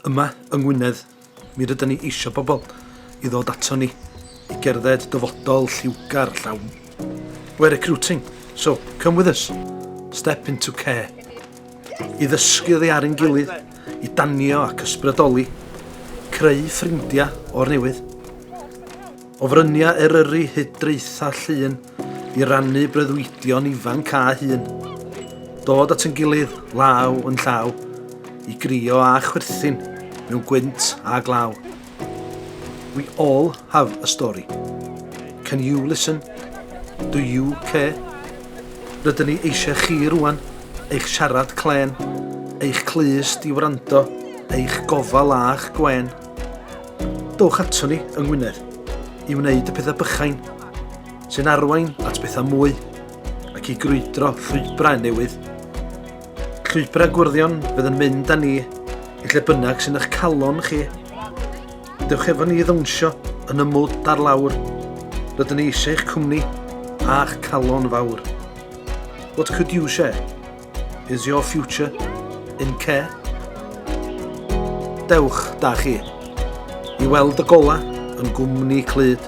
Yma yng Ngwynedd, mi rydyn ni eisiau pobl i ddod ato ni i gerdded dyfodol lliwgar llawn. We're recruiting, so come with us. Step into care. I ddysgu oddi ar ein gilydd, i danio ac ysbrydoli, creu ffrindiau o'r newydd. O fryniau Eryri hyd draethau llun i rannu breuddwydion ifanc a hun. Dod at yn gilydd, law yn llaw, i grio a chwerthin mewn gwynt a glaw. We all have a story. Can you listen? Do you care? Rydyn ni eisiau chi rwan, eich siarad clen, eich clust i wrando, eich gofal a'ch gwen. Dowch ato ni yng Ngwynedd i wneud y pethau bychain sy'n arwain at bethau mwy ac i grwydro llwybrau newydd. Llwybrau gwrddion fydd yn mynd â ni i lle bynnag sy'n eich calon chi. Dewch efo ni i ddawnsio yn y mwd ar lawr. Rydyn ni eisiau eich cwmni a'ch calon fawr. What could you share? Is your future in care? Dewch da chi i weld y gola yn gwmni clyd,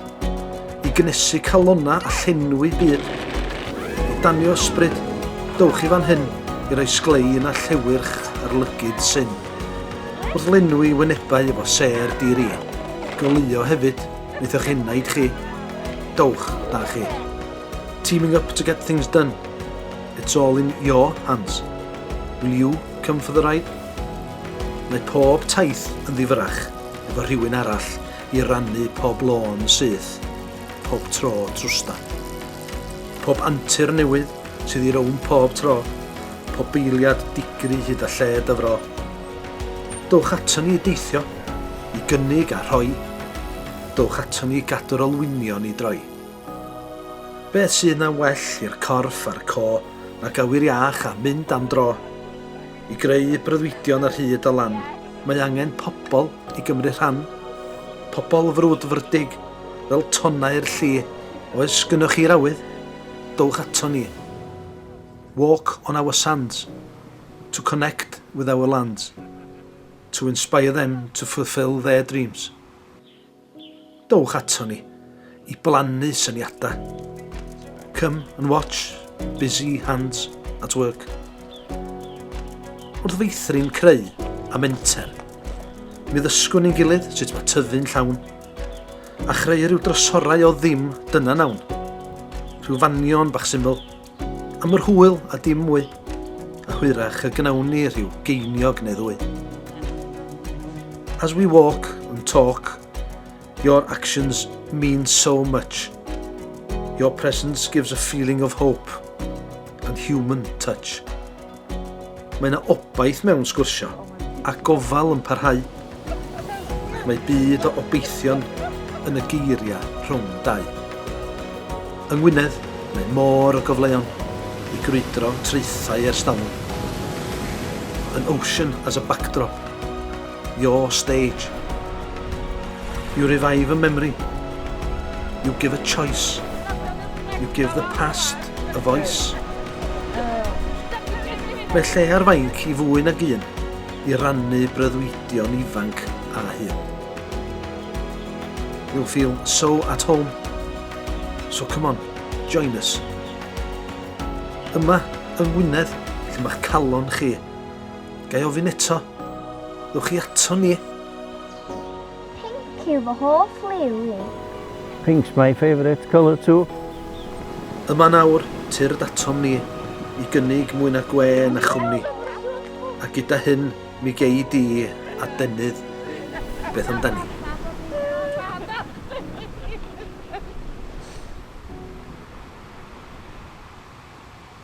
i gnesu calonna a llenwi byd, i danio ysbryd, dewch i fan hyn i roi sglein a llewyrch ar lygyd syn. Wrth lenwi wynebau efo ser diri, goleuo hefyd wneith eich enaid chi. Dewch da chi. Teaming up to get things done. It's all in your hands. Will you come for the ride? Mae pob taith yn ddifyrach efo rhywun arall i rannu pob lôn syth, pob tro trwstan. Pob antur newydd sydd i rown pob tro, pob beiliad digri hyd a lled y fro. Dowch ato ni i deithio, i gynnig a rhoi. Dowch ato ni i gadw'r olwynion i droi. Beth sydd na well i'r corff a'r co nag awyr iach a mynd am dro? I greu breuddwydion ar hyd a lan, mae angen pobl i gymryd rhan. Pobl frwdfrydig, fel tonnau'r lli, oes gynnoch chi'r awydd? Dowch aton ni. Walk on our sands, to connect with our lands, to inspire them to fulfil their dreams. Dowch aton ni i blannu syniadau. Come and watch busy hands at work. Wrth feithrin creu a menter, mi ddysgwn ni'n gilydd sut mae tyfu'n llawn, a chreu rhyw drysorau o ddim dyna nawn. Rhyw fanion bach syml, Am yr hwyl a dim mwy, a hwyrach y gnawn ni rhyw geiniog neu ddwy. As we walk and talk, your actions mean so much. Your presence gives a feeling of hope and human touch. Mae yna obaith mewn sgwrsio, a gofal yn parhau. Mae byd o obeithion yn y geiriau rhwng dau. Yng Ngwynedd, mae môr o gyfleon i grwydro traethau ers talwm. An ocean as a backdrop. Your stage. You revive a memory. You give a choice. You give the past a voice. Mae lle ar fainc i fwy nag un i rannu breuddwydion ifanc a hyn. You'll feel so at home. So come on, join us. Yma, yng Ngwynedd, lle mae'ch calon chi Gai ofyn eto? Ddwch chi ato ni? Pink yw fy hoff liw i. Pink's my favourite colour too. Yma nawr, tyrd atom ni, i gynnig mwy na gwe na chwmni. A gyda hyn, mi gei di adenydd. Beth amdani?